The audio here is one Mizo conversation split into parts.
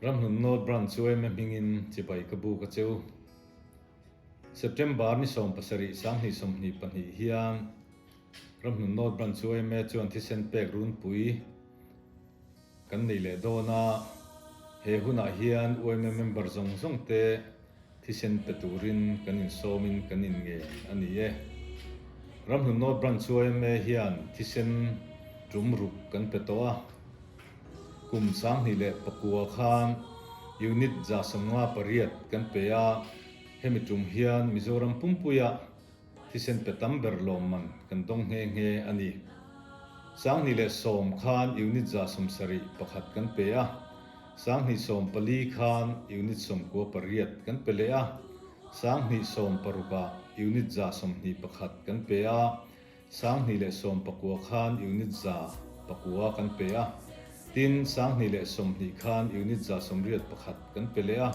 Ramhlun North Branch chu ema hmingin chibai ka buk a cheu. September ni sawm pasarih sanghnih sawmhnih pahnih hian Ramhlun North Branch chu ema chuan thisen pek runpui, Kan neih leh dawn a, he hunah hian UMM member zawng zawng te thisen pe turin kan insawmin kan innge a ni e. Ramhlunnaw Branch UMA hian thisen tum ruk kan pe tawh a, kum sanghnih leh pakua khan Unit za sawmnga pariat kan pe a, hemi tum hian Mizoram pumpuia Thisen pe tam ber lawm man kan dawng nghe nghe a ni. Sanghnih leh sawm khan unit za sawm sarih pakhat kan pe a, sanghnih sawm pali khan unit sawm kua pariat kan pe leh a, sanghnih sawm parukah unit za sawm hnih pakhat kan pe a, sanghnih leh sawm pakua khan unit za pakua kan pe a, tin sanghnih leh sawm hnih khan unit za sawmriat pakhat kan pe leh a.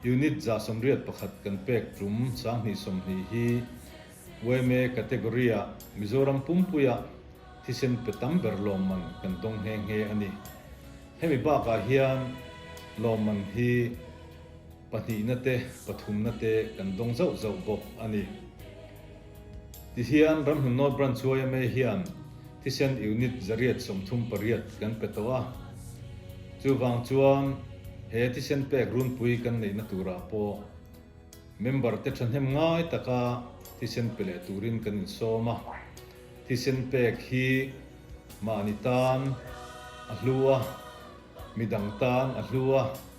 Unit za sawmriat pakhat kan pek tum sanghnih sawmhnih hi OMA category ah Mizoram pumpui ah thisen pe tam ber lawmman kan dawng nghe nghe a ni. Hemi bakah hian lawmman hi pahnihna te pathumna te kan dawng zauh zauh bawk a ni. Tihian ramhlun nawl branch chu yma hian thisen unit zariat sawmthum pariat kan pe tawh a, chuvang chuan he thisen pek runpui kan neihna turah pawh member te thahnem ngai taka thisen pe leh turin kan insawm a, thisen pek hi mahni tan a hlu a, midang tan a hlu a.